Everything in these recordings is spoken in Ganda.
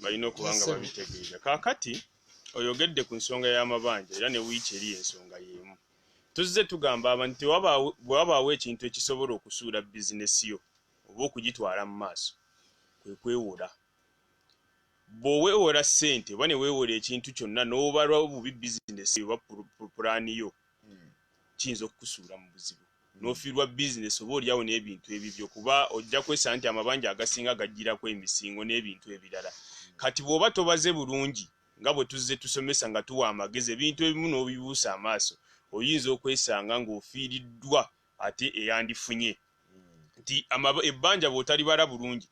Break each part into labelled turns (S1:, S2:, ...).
S1: balina okuba nga babitegeera. Kaakati oyogedde ku nsonga y'amabanja era ne wiiki eri ensonga y'emu. Tuzze tugamba abantu nti bwe wabaawo ekintu ekisobola okusuula bizinesi yo oba okugitwala mu maaso kwe kwewola. Bw'oweewola ssente oba ne weewola ekintu kyonna n'obala obubi bizinesi yo oba pulaani yo hmm. kiyinza okukusuula mu buzibu n'ofiirwa bizinesi oba olyawo n'ebintu ebibyo kuba ojja kwesa nti amabanja agasinga gajjirako emisingo n'ebintu ebirala kati bw'oba tobaze bulungi nga bwe tuzze tusomesa nga tuwa amagezi ebintu ebimu n'obibuusa amaaso oyinza okwesanga ng'ofiiriddwa ate eyandifunye nti ebbanja bw'otalibala bulungi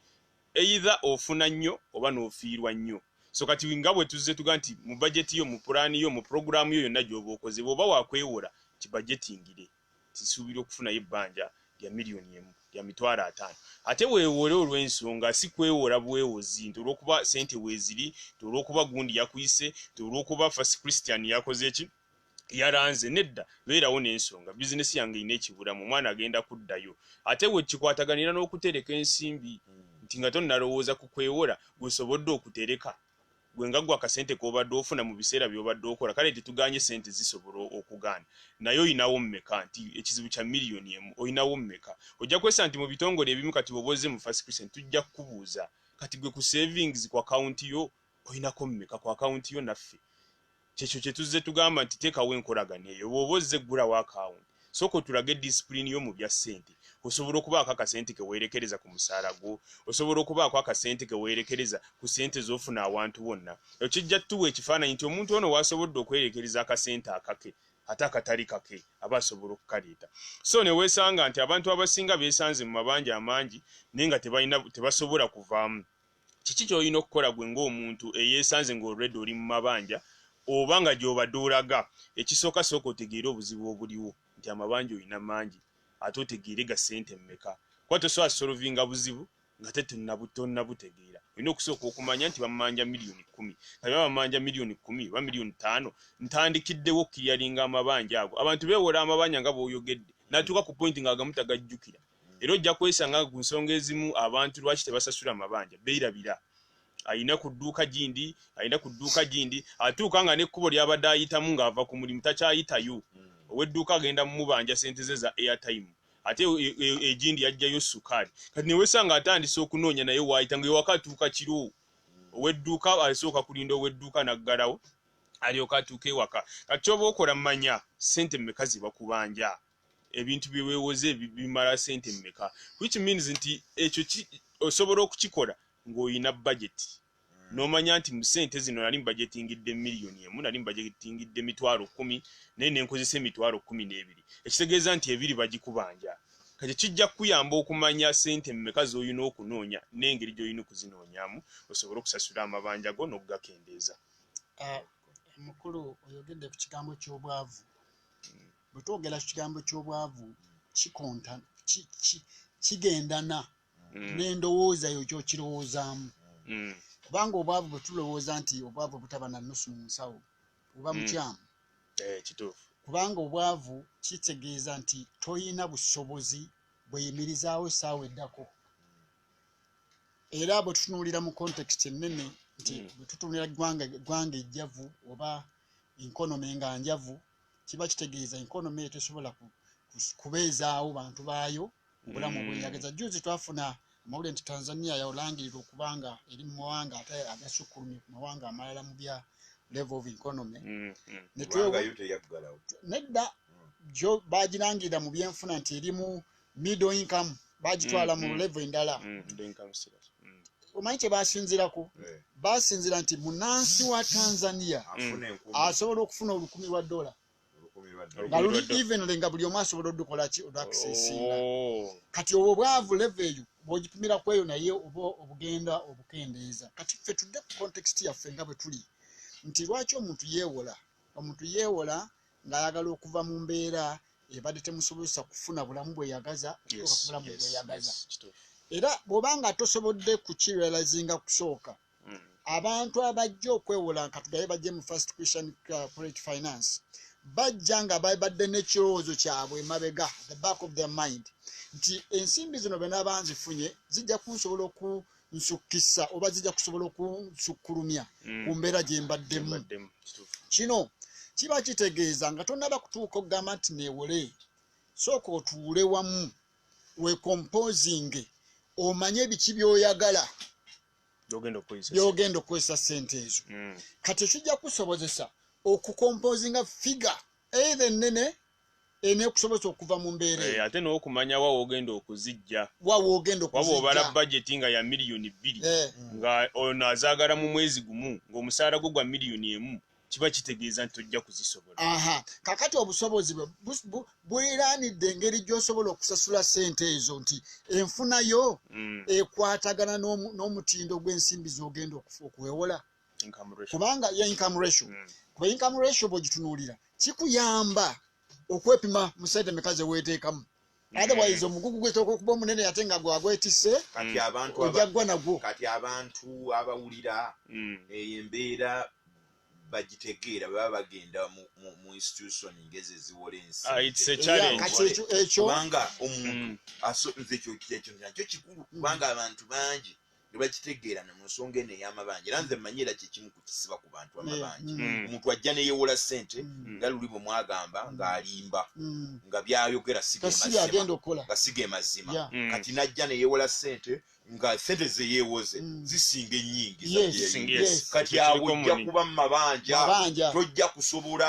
S1: Either ofuna nnyo oba n'ofiirwa nnyo. So kati nga bwe tuzze tuga nti mu bajeti yo, mu pulaani yo, mu pulogulaamu yo yonna gy'oba okoze bw'oba waakwewola kibajetingire nti nsuubira okufunayo ebbanja lya miliyoni emu, lya mitwalo ataano. Ate weewole olw'ensonga si kwewola bwewozi nti olw'okuba ssente weeziri, nti olw'okuba gundi yakuyise, nti olw'okuba First Christian yakoze ki. yaranze nedda beerawo nensonga business yange ina ekiburamu omwana agenda kuddayo ate wekikwataganira nokutereka ensimbi nti nga tonalowooza ku kwewola gwesobodde okutereka gwe nga gwe akasente kobadde ofuna mu biseera byobadde okola kale tetuganye sente zisobola okugaana naye olinawo mmeka nti ekizibu kya miliyoni emu olinawo mmeka ojja kwesa nti mu bitongole ebimu kati woba ozze mu first christian tujja kukubuuza kati gwe ku savings ku akawunti yo olinako mmeka ku akawunti yo naffe Kyekyo kyetuzze tugamba nti tekawo enkolagana eyo bwoba ozze ggulawo account sooka otulage discipline yo mubya ssente osobola okubaako akasente kewerekereza ku musaala gwo osobola okubaako akasente kewerekereza ku ssente zofuna awantu wonna ekyo kijja tutuwa ekifaananyi nti omuntu ono wasobodde okwerekereza akasente akake ate akatali kake aba asobola okukaleeta so newesanga nti abantu abasinga besanze mu mabanja amangi naye nga tebalina tebasobola kuvaamu Kiki ky'olina okukola ggwe ng'omuntu eyeesanze nga already oli mu mabanja oba nga gy'obadde olaga? Ekisooka sooka otegeere obuzibu obuliwo nti amabanja olina mangi ate otegeere ga ssente mmeka kuba tosobola solovinga buzibu ngate tonnabutegeera. Olina okusooka okumanya nti bamanja miliyoni kkumi kati oba bamanja miliyoni kkumi oba miliyoni ttaano ntandikiddewo okukiriyalinga amabanja ago. Abantu beewola amabanja nga bw'oyogedde n'atuuka ku point ng'agamu tagajjukira. era ojja kwesanga nga ku nsonga ezimu abantu lwaki tebasasula mabanja beerabira alina ku dduuka gindi alina ku dduuka gindi atuuka nga n'ekkubo ly'abadde ayitamu ng'ava ku mulimu takyayitayo hmm. ow'edduuka agenda mumubanja sente ze za airtime ate egindi e, e, yajjayo sukaali kati newesanga atandise okunoonya naye waayita nga ewaka atuuka kiro hmm. ow'edduuka asooka kulinda ow'edduuka n'aggalawo alyoka atuuka ewaka kati kyoba okola manya sente mmeka ze bakubanja ebintu bye weewoze bimala ssente mmeka which means nti ekyo osobola okukikola ng'olina bajeti hmm. n'omanya nti mu ssente zino nali mbajetingidde miliyoni emu nali mbajetingidde emitwalo kkumi naye ne nkozesa emitwalo kkumi n'ebiri ekitegeeza nti ebiri bagikubanja kati kijja kukuyamba okumanya ssente mmeka z'olina okunoonya n'engeri gy'olina okuzinoonyamu osobole okusasula amabanja go n'okugakendeeza ah,
S2: mukulu oyogedde ku kigambo ky'obwavu Bwe twogera ku kigambo ky'obwavu kikonta kigendana mm. n'endowooza yo kyokirowoozaamu mm. kubanga obwavu bwe tulowooza nti obwavu obutaba na nusu mu nsawo oba mm. mukyamu eh, kituufu
S1: kubanga
S2: obwavu kitegeeza nti tolina busobozi bweyimirizaawo essaawa eddako era bwe tutunuulira mu context ennene nti bwe tutunuulira ggwanga ejjavu oba enkonomi nga njavu mm. kiba kitegeeza enkonomi eyo tesobola kubeezaawo bantu baayo obulamu mm. bweyageza juzi twafuna amawulire nti tanzania yaolangirirwa okuba nga eri mu mawanga ate agasukkulumye ku mawanga amalala mu bya level of economy mm, mm. nedda bagirangirira mu byenfuna nti erimu middle income bagitwala mm, mu mm. level endala mm, omanyi kyebasinzirako eh. basinzira nti munansi wa tanzania asobola okufuna olukumi lwa dola nga luli evenly nga buli omu asobola odukolaki odakisesinga oh. kati obwo bwavu level eyo bwogipimira kweyo naye oba obugenda obukendeeza kati ffe tudde ku context yaffe nga bwe tuli nti lwaki omuntu yeewola omuntu yeewola ng'ayagala okuva mu mbeera ebadde temusobozesa kufuna bulamu bweyagaza okutuuka ku bulamu bweyagaza era bw'oba nga tosobodde kukirealizinga kusooka mm. abantu abajja okwewola nkatugaye bajje mu first christian uh, corporate finance bajja nga babadde n'ekirowoozo kyabwe emabega the back of their mind nti ensimbi zino benabanzifunye zijja kunsobola oku mm. nsukkisa oba zijja kusobola okunsukkulumya mm. ku mbeera gye mbaddemu kino kiba kitegeeza nga tonnaba kutuuka okugamba nti neewole sooka otuule wamu wekompozinge omanye ebiki byoyagala byogenda okukozesa sente ezo mm. kati ekijja kusobozesa okukompozinga figa eitha ennene enekusobozesa okuva mu mbeera eh, ate n'okumanya wa
S1: wogenda okuzijja wa wogenda okuzijja
S2: waba obala bajeti nga
S1: ya miliyoni bbiri eh. nga ono azaagala mu mwezi gumu ng'omusaala gwo gwa miliyoni emu kiba kitegeeza nti ojja kuzisobola aha kakati
S2: obusobozi bwe bweranidde engeri gy'osobola okusasula sente ezo nti enfunayo mm. ekwatagana n'omutindo gw'ensimbi z'ogenda okuwewola kubanga ya income ratio mm. kuba income ratio bwogitunuulira kikuyamba okwepima musente meka zeweteekamu mm. otherwise omugugu gwetooka okuba omunene ate nga gwagwetise ojaggwa nagwo kati abantu
S3: abawulira mm. eyo embeera bagitegeera bwebaba bagenda mu institution ngezi eziwola ensikubanga
S1: ah,
S3: omuntu nze ekyo kikulu kubanga abantu bangi ne bakitegeerana mu nsonga eno ey'amabanja era nze mmanyi era kye kimu ku kisiba ku bantu amabanja mm. Mm. omuntu ajja ne yeewola ssente mm. nga luli bwe mwagamba ng'alimba nga byayogera nga siga emazima kati n'ajja ne yeewola ssente nga ssente ze yeewoze zisinga ennyingi kati awo ojja kuba mu mabanja tojja kusobola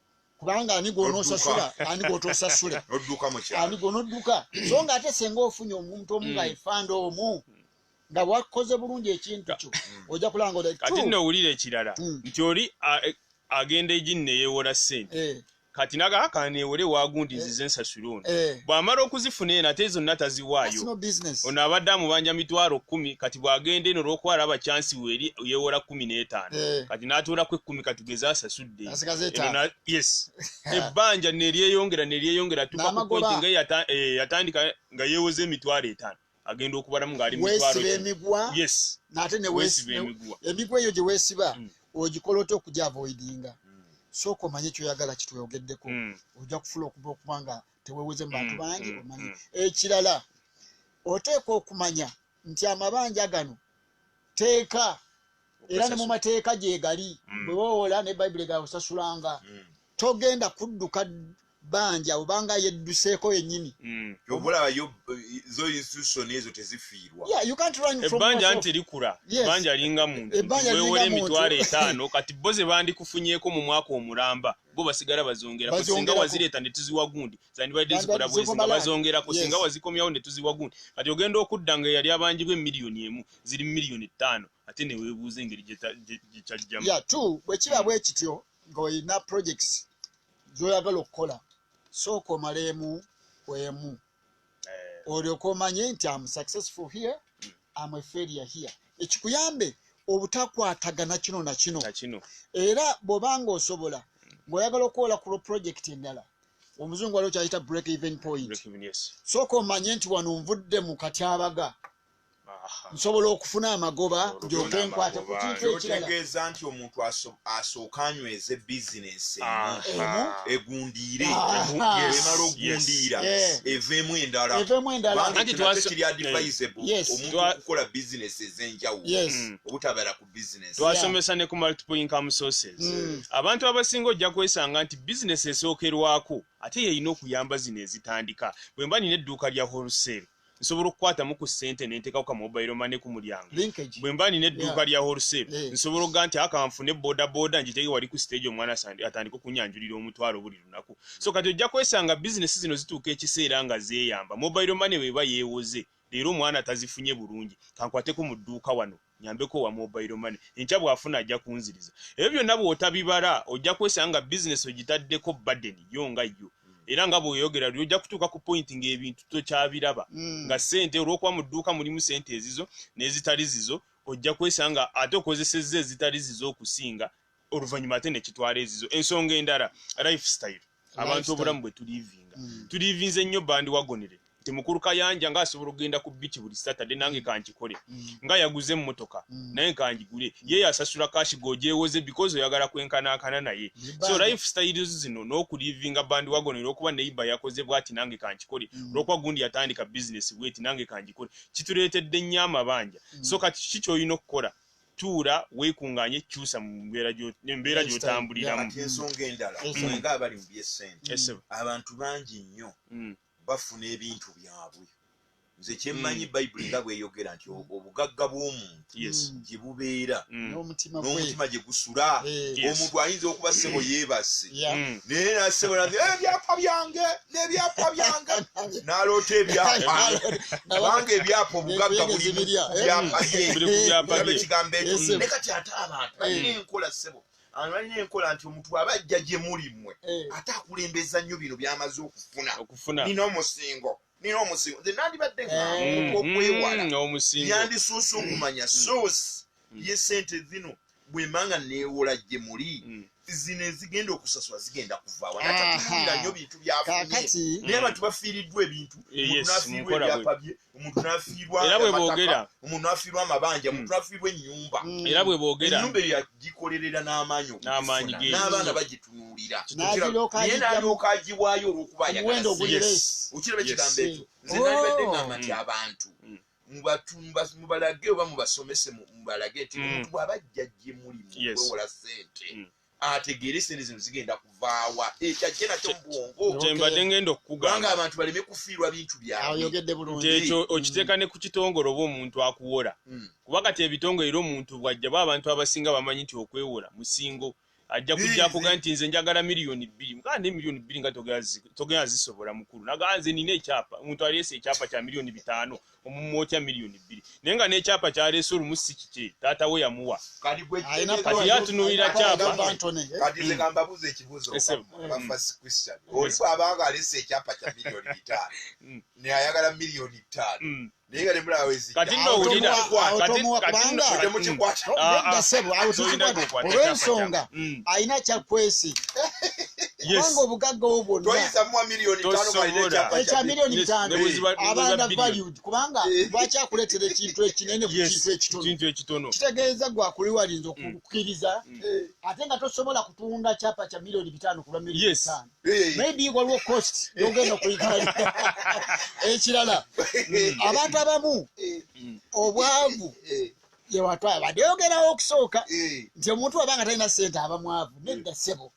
S2: kubanga ani gwonosasula ani gwotosasule ani gwonodduka so nga ate senga ofunye omuntu omu nga mm. efanda omu nga wakoze bulungi ekintu kyo mm. oja kulanga kati nno owulira ekirala
S1: mm. nti oli agenda ejini neyewola sente eh. kati naga kanewole wagundi eh. nzize ensasula ono eh. bwamala okuzifuna eno ate zonna taziwaayo ono abadde amubanja mitwalo kumi kati bwagenda eno olwokuba alaba kyansi weri yewola kumi n'etaano kati natuulako ekkumi katugeze asasud ebadde yes ebbanja neryeyongera neryeyongera tukakupointi nga eh, yatandika nga yewoza emitwalo etaano agenda okubalamu ngaali
S2: emigwaemigwa eyo gyewesiba hmm. ogikola otya okujavoidinga hmm. sooka omanye kyoyagala kitweyogeddeko hmm. ojja kufula okuba okuba nga teweweze mu bantu bangi omanyi ekirala oteekwa okumanya nti amabanja gano teeka era ne mu mateeka gyegali mm. bwewowola ne bayibuli gakusasulanga mm. togenda kudduka banja obanga yedduseeko yenyini mm. obulaba yo
S3: zo institution ezo tezifiirwa ebbanja
S1: nti likula ebbanja linga muntu wewola emitwalo etaano kati bo ze bandikufunyeko mu mwaka omulamba bo basigala bazongera kusinga wazireta ne tuziwa gundi zandibadde zikola bwezi nga bazongera kusinga wazikomyawo ne tuziwa gundi kati ogenda okudda nga eyali abanjibwa emiliyoni emu ziri miliyoni ttaano ate ne weebuuza engeri gyekyajjamu ya tu bwe kiba bwe kityo
S2: ng'olina projects z'oyagala okukola sooka omaleemu kwemu eh. olyoka omanye nti am successful here mm. am a failure here ekikuyambe obutakwatagana kino na kino era bwoba nga osobola mm. ng'oyagala okuwola ku lwoprojekiti endala omuzungu waliwo kyayita break even point sooka omanye nti wano nvudde mu katyabaga nsobola okufuna amagoba njoke nkwate ku kintu ekiraotegeeza nti omuntu
S3: asooka anyweze bizinensi emu egundiire emala ogundiira eveemu endalaekiri advisable omuntu okukola bizinensi ez'enjawulo mm. obutabeera ku bizinensi twasomesa ne ku multiple
S1: income sources mm. abantu abasinga ojja kwesanga nti bizinensi esookerwako ate yeyina okuyamba zino ezitandika bwe mba nina edduuka lya wholesale nsobola okukwatamu ku ssente ne nteekako ka mobile money ku mulyango bwe mba nina edduuka lya wholesale eh. nsobola okuga nti aka nfune bodaboda ngiteeke wali ku siteegi omwana atandika okunyanjulira omutwalo buli lunaku so kati ojja kwesanga bizinesi zino zituuka ekiseera nga zeeyamba mobile money bweba yeewoze leero omwana tazifunye bulungi kankwateko mu dduuka wano nyambeko owa mobile money enkya bw'afuna ajja kunziriza ebyo byonna bw'otabibala ojja kwesanga nga bizinesi ogitaddeko baden yo nga yo era nga bweyogera luli ojja kutuuka ku pointi ng'ebintu tokyabiraba mm. nga sente olw'okuba mu dduuka mulimu sente ezizo n'ezitali zizo ojja kwesanga ate okozesezza ezitali zizo okusinga oluvannyuma ate nekitwala ezizo ensonga endala life style abantu obulamu bwe tulivinga mm. tulivinze nnyo bandi wagonere nti mukulu kayanja nga asobola okugenda ku bici buli saturday nange mm. kankikole mm. nga yaguze emmotoka naye nkangigule ye yasasula kashi gojewoze because oyagala kwenkanankana naye so life styles zino n'okulivinga bandi wagonere okuba neiba yakoze bwati nange kankikole olwokuba gundi yatandika bizinesi bweti nange kangikole kituleetedde nnyo amabanja so kati kiki kyolina okukola tuula wekungaanye kyusa mu mbeera embeera gyotambuliramu ati ensonga endala
S3: mm. nga abali mu byesente abantu bangi nnyo mm. bafuna ebintu byabwe nze kyemmanyi mm. bayibuli nga bweyogera nti obugagga bw'omuntu gye bubeera n'omutima gye gusula eh. omuntu ayinza okuba ssebo yeebase naye nasebo eh, ebyapa byange nebyapa byange naloota ebyapange ebyapa obugagga buli byapaekigambo ekyo ne kati ate abantu balina mm. enkola ssebo abantu balina enkola nti omuntu aba ajja gye muli mmwe eh. ate akulembeza nnyo bino byamaze okufuna nina omusingo nina omusingo nze nandibadde nga eh. okwewala mm, mm, yandisuusa okumanya suusi mm. ye sente zino bwembanga newola gye muli mm. zino ezigenda okusasula zigenda kuvawa natatulira nyo bintu byafunye naye abantu bafiiriddwa ebintu omuntunafiirwa ebyapa bye omuntu nafiirwa omuntu nafiirwa amabanja omuntu mm. nafiirwa enyumba mm. era bwe bogera
S1: enyumba eyo yagikolerera
S3: n'amaanyi n'amaanyi ge n'abaana bagitunuulira naye nalyoka agiwaayo olwokuba ayagala okiraba ekigambo ekyo nze nalibadde ngamba nti abantu mubalage oba mubasomese mubalage nti mm. omuntu bwaba ajja gye muli mukwewola sente mm. ategeere sente zino zigenda kuvaawa ekyo ajje nakyo mubwongo kyembadde ngenda okukugamba
S1: abantu baleme kufiirwa
S3: bintu byaekyo
S1: okiteeka ne ku kitongole oba omuntu akuwola mm. kuba kati ebitongole era omuntu bwajjabu abantu abasinga bamanyi nti okwewola musingo mm. ajja kujja kuga nti nze njagala miliyoni bbiri mugamba naye miliyoni bbiri nga togenda zisobola mukulu nagamba nze nina ekyapa omuntu aleese ekyapa kya miliyoni bitaano omumwa otya miliyoni bbiri naye nga n'ekyapa kyaleese olumu si kikye taata we yamuwa kati ye atunuulira kyapa
S3: naye nga
S1: temulawezi kati no
S2: wulira kati olwensonga alina kyakwesi kubanga obugagga wo bwonnaekya miliyoni bitaano abanda valued kubanga eh. lwaki akuleetera ekintu ekinene ku kintu ekitono kitegeeza gwe akuliwalinza mm. okukkiriza mm. ate nga tosobola kutunda kyapa kya miliyoni bitaano kulwa miliyoni bitaano maybe waliwo cost yogenda okuyitayo ekirala abantu abamu obwavu yewatwala bade yogerawo okusooka nti omuntu waba nga talina sente aba mwavu nedda sebo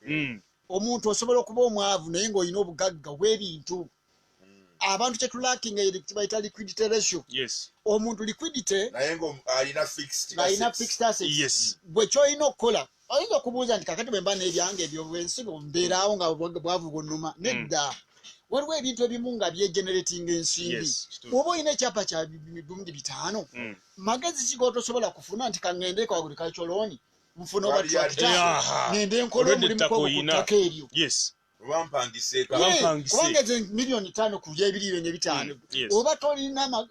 S2: omuntu osobola okuba omwavu naye ngaolina obugagga obwebintu abantu kyetulakinga yekibayita liquidity ratio omuntu liquidity alina fixed assets gwe kyolina okukola oyinza okubuuza nti kakati bwemba nebyange ebyo bwensi mbeeraawo nga bwavu bunuma mm. nedda waliwo ebintu ebimu nga byegeneratinga ensimbi oba olina ekyapa kya mirundi bitaano mm. magezi kiga otosobola kufuna nti kaŋendeeko waguli kakyolooni nfuna oba trakita nende nkola omulimu kwokuttaka eryo obampangise kubanga ezo miliyoni tano ku byebiri ebyo nebitaano mm, oba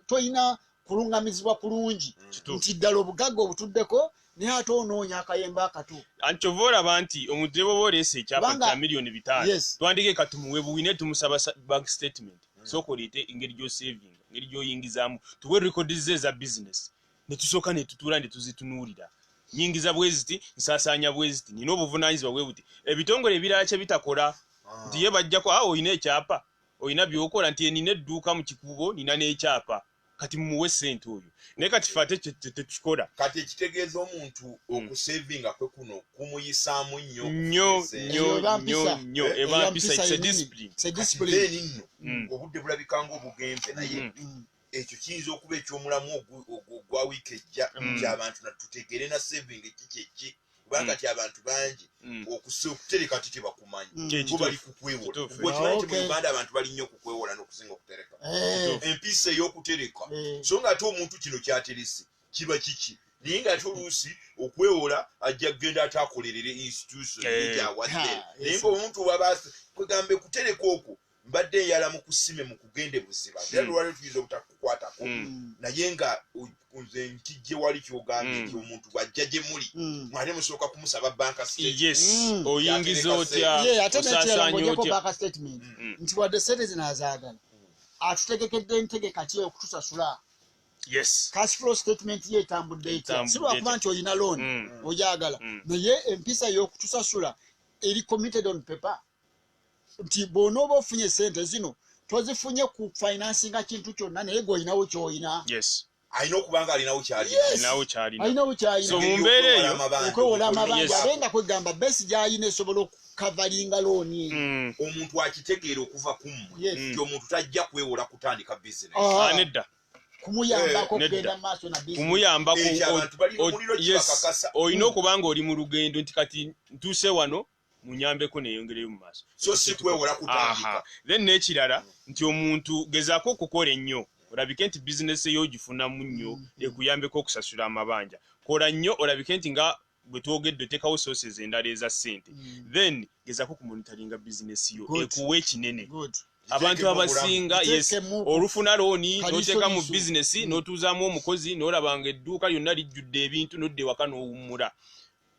S2: tolina kulungamizibwa kulungi mm. nti ddala obugagga obutuddeko naye ate onoonya akayemba akato anti kyova olaba
S1: nti omudireba oba oleesa ekyapa kya miliyoni bitaano twandike katumuwe buwine tumusaba bank statement mm. sooka oleete engeri gyosavinga engeri gyoyingizaamu tuwe rekodi ze eza bizinesi ne tusooka ne tutuula ne tuzitunuulira nyingiza bwe ziti nsaasaanya bwe ziti nina obuvunaanyizibwa bwe buti ebitongole ebirala kye bitakola ah. nti ye bajjako awo ah, olina ekyapa olina by'okola nti enina edduuka mu kikuubo nina n'ekyapa kati mumuwe ssente oyo naye kati fe ate tetukikola kati ekitegeeza
S3: omuntu hmm. okusevinga kwe kuno kumuyisaamu nnyo nnyo nnyo nnyo
S1: nnyo eh, eba mpisa se disipulini se disipulini
S3: nno hmm. obudde bulabika ng'obugenze naye hmm. ekyo kiyinza okuba ekyomulamu ogwa wiiki ejja mm. nti abantu natutegeere na saving ki kyeki kubanga mm. ti abantu bangi mm. okutereka ti tebakumanyi bo bali kukwewolakimanyi ti muuganda abantu bali nnyo okukwewola nokusinga okutereka eh. empiisa eyokutereka eh. so nga ate omuntu kino kyaterese kiba kiki naye nga ate oluusi okwewola ajja kugenda ate akolerere institution eh. gyawadde naye nga omuntu waba kwegambe kutereka okwo mbadde eyala mukusime mukugende buziba era hmm. lwaliro tuyinza obutakukwatako hmm. naye nga nze nkijje wali kyogambye hmm. nti omuntu bwajja gye muli mwate musooka kumusaba banka oyingiza
S1: otyaosasanyaotyastatement
S2: nti wadde sente zino azaagala atutegekedde entegeka ki okutusasula cashflow statement ye etambudde etya si lwakuba nti olina looni ogyagala naye empisa y'okutusasula eri committed on paper nti bwonooba ofunye sente zino tozifunye ku finansinga kintu kyonna naye gweolinawo kyoyina alina okuba
S3: nga alinawo
S2: kyalinaokwewola
S1: amabanja
S2: abe nga kwegamba besi gyalina esobola okukavalinga looni eyo mm. omuntu
S3: akitegeera okuva kumu ti omuntu tajja kwewola kutandika bizinedda ah.
S1: kumuyambako
S2: eh, kugenda maaso na kumuyambako
S1: eh, olina okuba nga oli mu lugendo nti kati ntuuse wano munyambeko neyongereyo mumaaso so si kwewola
S3: kutandika then nekirala
S1: nti omuntu gezaako okukola ennyo olabike nti bizinesi eyo ogifunamu nnyo mm. ekuyambeko okusasula amabanja kola nnyo olabike nti nga bwetwogedde otekawo sources endala eza ssente mm. then gezaako kumonitaringa bizinesi yo ekuwa ekinene abantu abasinga yes olufuna looni noteka mu bizinesi mm. notuuzamu omukozi nolabanga edduuka lyonna lijjudde ebintu nodda ewaka nowummula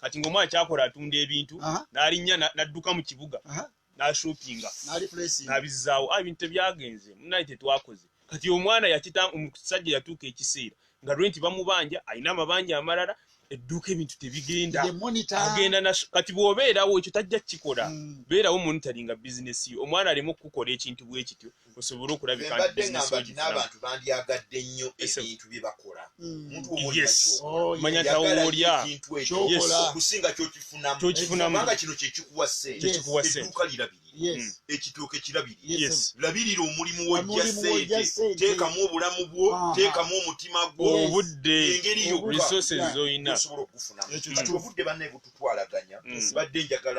S1: kati nga omwana kyakola atunda ebintu n'alinnya n'adduka mu kibuga n'ashoppinga n'abizzaawo ah, ebintu tebyagenze munaye tetwakoze kati omwana yakita omusajja yatuuka ekiseera nga renti bamubanja alina amabanja amalala edduuka ebintu tebigenda agenda kati bw'obeerawo ekyo tajja kukikola hmm. beerawo monitoringa bizinesi yo omwana aleme okukukola ekintu bwe kityo osobole okulabika nti bizinesi yo n'abantu bandyagadde
S3: nnyo ebintu bye bakola omuntu mm. womanya
S1: nti awo woolya okusinga
S3: kyokifunamukubanga kino kyekikuwa sente edduuka lirabirire mm. ekitooke kirabirire labirira omulimu wojja sente teekamu obulamu bwo teekamu omutima gwo obudde engeri
S1: yokka
S3: osobola okugufunamu kati obudde bannaye bututwalaganya mm. badde njagala